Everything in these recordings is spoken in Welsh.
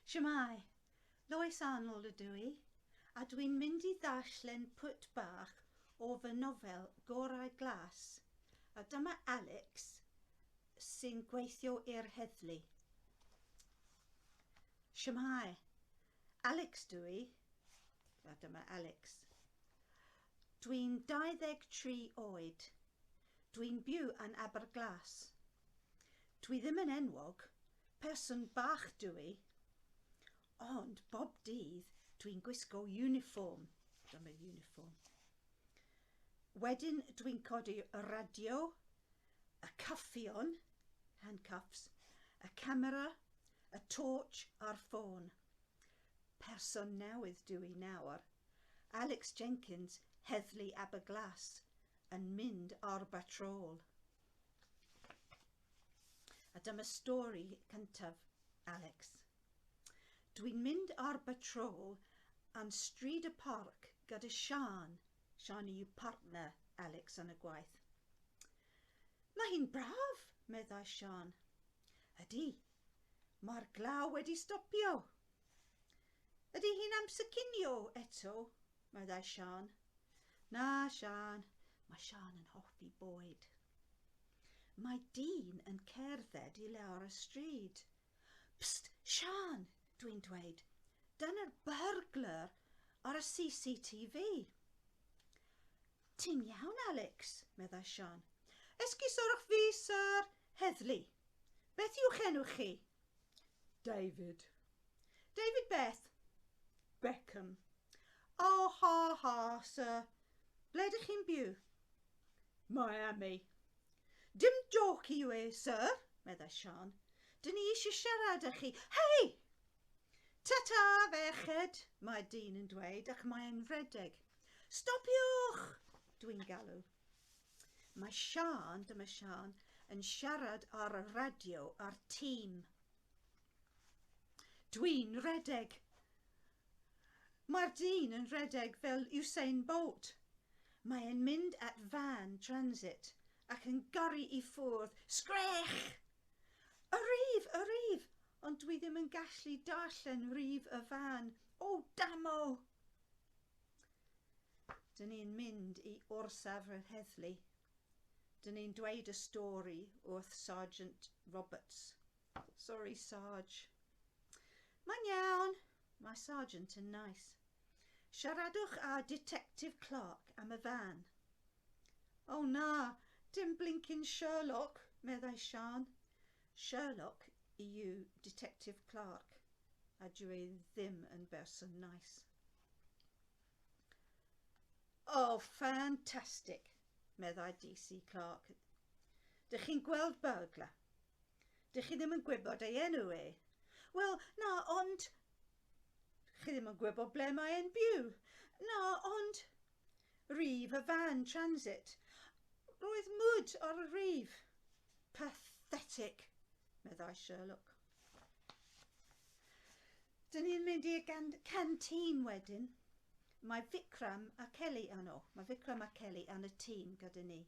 Shwmae! Lois Arnold ydw i, a dwi'n mynd i ddarllen pwt bach o fy nofel gorau glas, a dyma Alex sy'n gweithio i'r heddlu. Shwmae! Alex dw i, a dyma Alex. Dwi'n 23 oed. Dwi'n byw yn Aberglas. Dwi ddim yn enwog, Person bach dw i, ond bob dydd dwi'n gwisgo uniform, dyma uniform. Wedyn dwi'n codi y radio, y cyffion, handcuffs, y camera, y torch a'r ffôn. Person newydd dw i nawr. Alex Jenkins, Heddlu Aberglas, yn mynd ar batrôl. A dyma stori cyntaf Alex. Dwi'n mynd ar batrôl yn Stryd y Parc gyda Siân, Siân yw partner Alex yn y gwaith. Mae hi'n braf, meddai Siân. Ydy, mae'r glaw wedi stopio. Ydy hi'n amser cinio eto, meddai Siân. Na, Siân, mae Siân yn hoffi bwyd. Mae dyn yn cerdded i lawr y stryd. Psst, Siân! Dwi'n dweud, dyna'r burglar ar y CCTV. Ti'n iawn, Alex, meddai Siân. Esguswch fi, Sir Heddlu. Beth yw'ch enw chi? David. David Beth? Beckham. O, oh, ha, ha, Sir. Ble ydych chi'n byw? Mae Amy. Dim joc i yw e, sir, meddai Sian. Dyn ni eisiau siarad â chi. Hei! Ta-ta, ferched, mae dyn yn dweud ac mae e'n fredeg. Stopiwch! Dwi'n galw. Mae Sian, dyma Sian, yn siarad ar y radio a'r tîm. Dwi'n redeg. Mae'r dyn yn rhedeg fel Usain Bolt. Mae e'n mynd at fân transit ac yn gyrru i ffwrdd, Sgrech! Y rhif! Y rhif! Ond dwi ddim yn gallu darllen rhif y fân. O, damo! Dyn ni'n mynd i orsaf yr heddlu. Dyn ni'n dweud y stori wrth Sergeant Roberts. Oh, sorry, Sarge. Mae'n iawn. Mae Sergeant yn nice. Siaradwch â Detective Clark am y fan. Oh na, dim blinkin Sherlock, meddai Sian. Sherlock yw Detective Clark, a dw ei ddim yn berson nice. Oh, fantastic, meddai DC Clark. Dych chi'n gweld burglar? Dych chi ddim yn gwybod ei enw e? Wel, na, ond... Chi ddim yn gwybod ble mae e'n byw? Na, ond... Rif y fan transit. Roedd mwd ar y rif. Pathetic, meddai Sherlock. Dyn ni'n mynd i'r canteen wedyn. Mae Vikram a Kelly yno. Mae Vikram a Kelly yn y tîm gyda ni.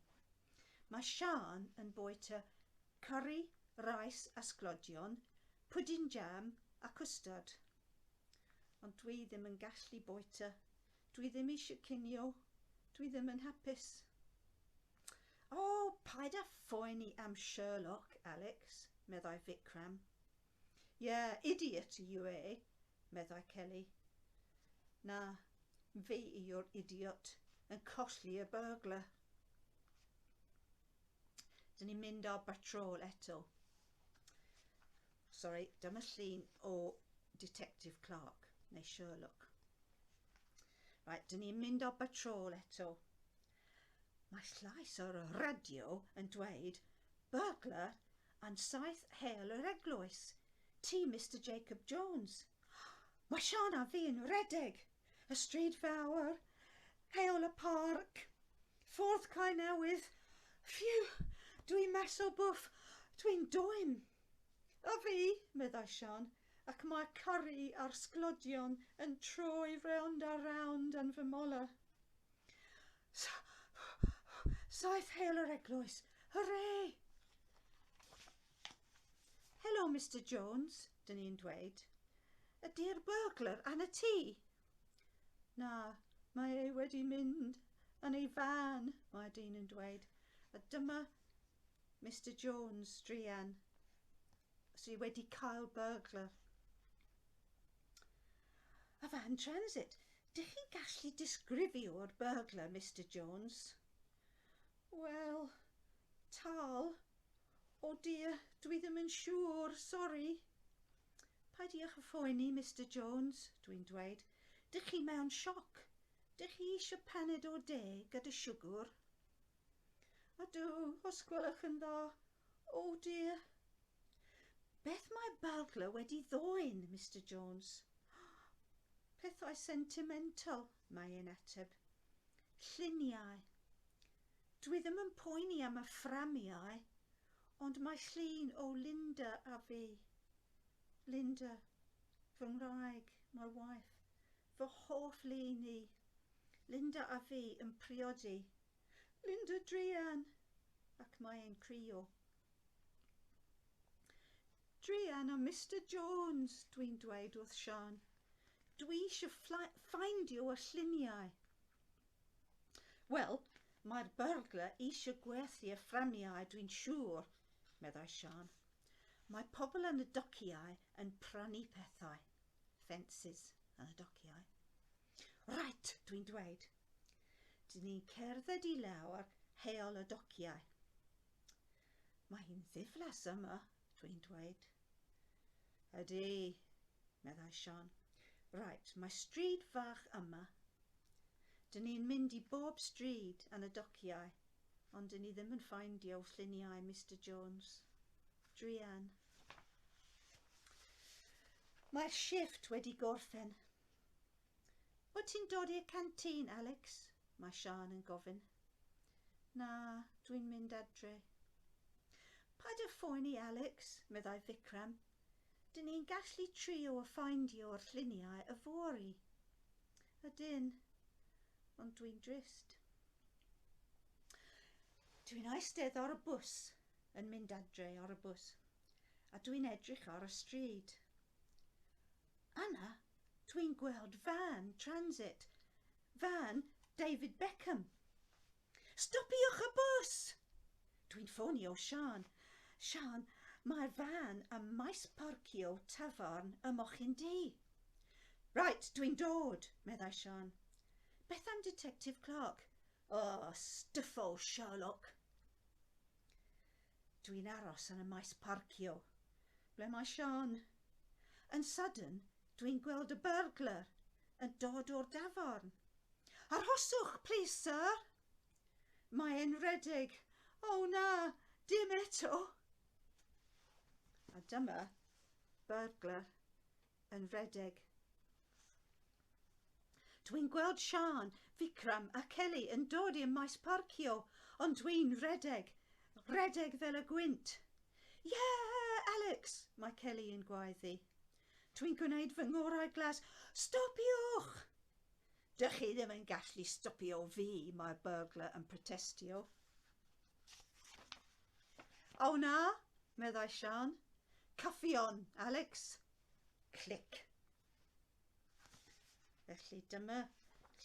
Mae Siân yn bwyta cyrri, rais a sglodion, pwdin jam a cwstard. Ond dwi ddim yn gallu bwyta. Dwi ddim eisiau cinio. Dwi ddim yn hapus. O, paid â phoeni am Sherlock, Alex, meddai Vikram. Ie, idiot yw e, meddai Kelly. Na, fi yw'r idiot yn colli y burglar. Dyn ni'n mynd ar batrol eto. Sorry, dyma llun o Detective Clark, neu Sherlock. Right, dyn ni'n mynd ar batrol eto. Mae llais ar y radio yn dweud, burglar, And saith hel yr eglwys, Tŷ Mister Jacob Jones. Mae Siân a fi yn redeg! Y stryd fawr, heol y parc, ffordd Cai Newydd. Ffiw! Dw i'n mess o bwff! Dw i'n dwym! A fi! meddai Siân, ac mae cyrri a'r sglodion yn troi rownd a rownd yn fy mola. Saif hel yr eglwys! Hwre! Helo, Mister Jones, dyn ni'n dweud. Ydy'r burglar yn y tŷ? Na, mae ei wedi mynd yn ei fan, mae dyn yn dweud. A dyma Mister Jones, Drian, sydd wedi cael burglar. A fan transit, Dych chi'n gallu disgrifio'r burglar, Mister Jones? Wel, tal. O dear, dwi ddim yn siŵr, sori. Paidiwch â phoeni, Mister Jones, dwi'n dweud. Dych chi mewn sioc. Dych chi eisiau paned o de gyda siwgwr? Ydw, os gwelwch yn dda, Oh dear! Beth mae Balgla wedi ddoen, Mister Jones? Pethau sentimental, mae e'n ateb. Lluniau. Dwi ddim yn poeni am y fframiau, ond mae llun o Linda a fi. Linda, fy ngwraig, my wife, fy hoff lun i. Linda a fi yn priodi Linda druan! ac mae e'n crio. Druan a Mister Jones, dwi'n dweud wrth Siân. Dwi eisiau ffeindio y lluniau. Wel, mae'r burglar eisiau gwerthu y fframiau dwi'n siŵr, meddai Siân. Mae pobl yn y dociau yn prynu pethau. Fences yn y dociau. Right, dwi'n dweud. Dyn ni'n cerdded i lawr heol y dociau. Mae hi'n ddiflas yma, dwi'n dweud. Ydy, meddai Sean. Right, mae stryd fach yma. Dyn ni'n mynd i bob stryd yn y dociau, ond dyn ni ddim yn ffeindio lluniau Mr Jones. Drian. Mae'r shift wedi gorffen. Wyt ti'n dod i'r canteen, Alex? Mae Siân yn gofyn. Na, dwi'n mynd adre. Paid â phoeni, Alex, meddai Vikram. Dyn ni'n gallu trio ffeindio'r lluniau y fori. Ydyn, ond dwi'n drist. Dwi'n eistedd ar y bws, yn mynd adre ar y bws, a dwi'n edrych ar y stryd. Yna, dwi'n gweld van transit. Van David Beckham. Stopiwch y bws! Dwi'n ffonio Siân. Siân, mae'r van ym maes parcio tafarn y mochyn du. Right, dwi'n dod, meddai Siân. Beth am Detective Clark? O, oh, stuffo Sherlock. Dwi'n aros yn y maes parcio. Ble mae Siân? Yn sydyn, dwi'n gweld y burglar yn dod o'r dafarn. Arhoswch, plis, syr! Mae e'n rhedeg. O oh, na, dim eto! A dyma burglar yn redeg. Dwi'n gweld Siân, Vikram a Kelly yn dod i'r maes parcio, ond dwi'n redeg, redeg fel y gwynt. Yeah, Alex, mae Kelly yn gwaeddu. Dwi'n gwneud fy ngorau glas, stopiwch! Dych chi ddim yn gallu stopio fi, mae'r burglar yn protestio. O na, meddai Siân. Cyffion, Alex. Clic. Felly dyma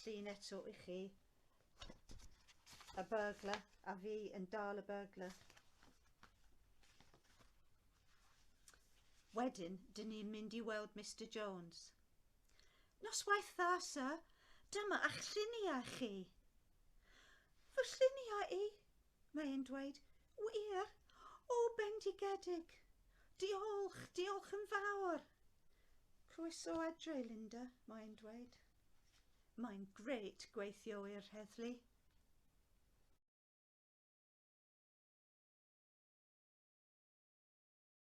llun eto i chi. Y burglar a fi yn dal y burglar. Wedyn, dyn ni'n mynd i weld Mr Jones. Noswaith dda, sir. Dyma a'ch lluniau chi. Fy lluniau i, mae e'n dweud. Wir? O, bendigedig! Diolch, diolch yn fawr! Croeso adre, Linda, mae e'n dweud. Mae'n grêt gweithio i'r heddlu.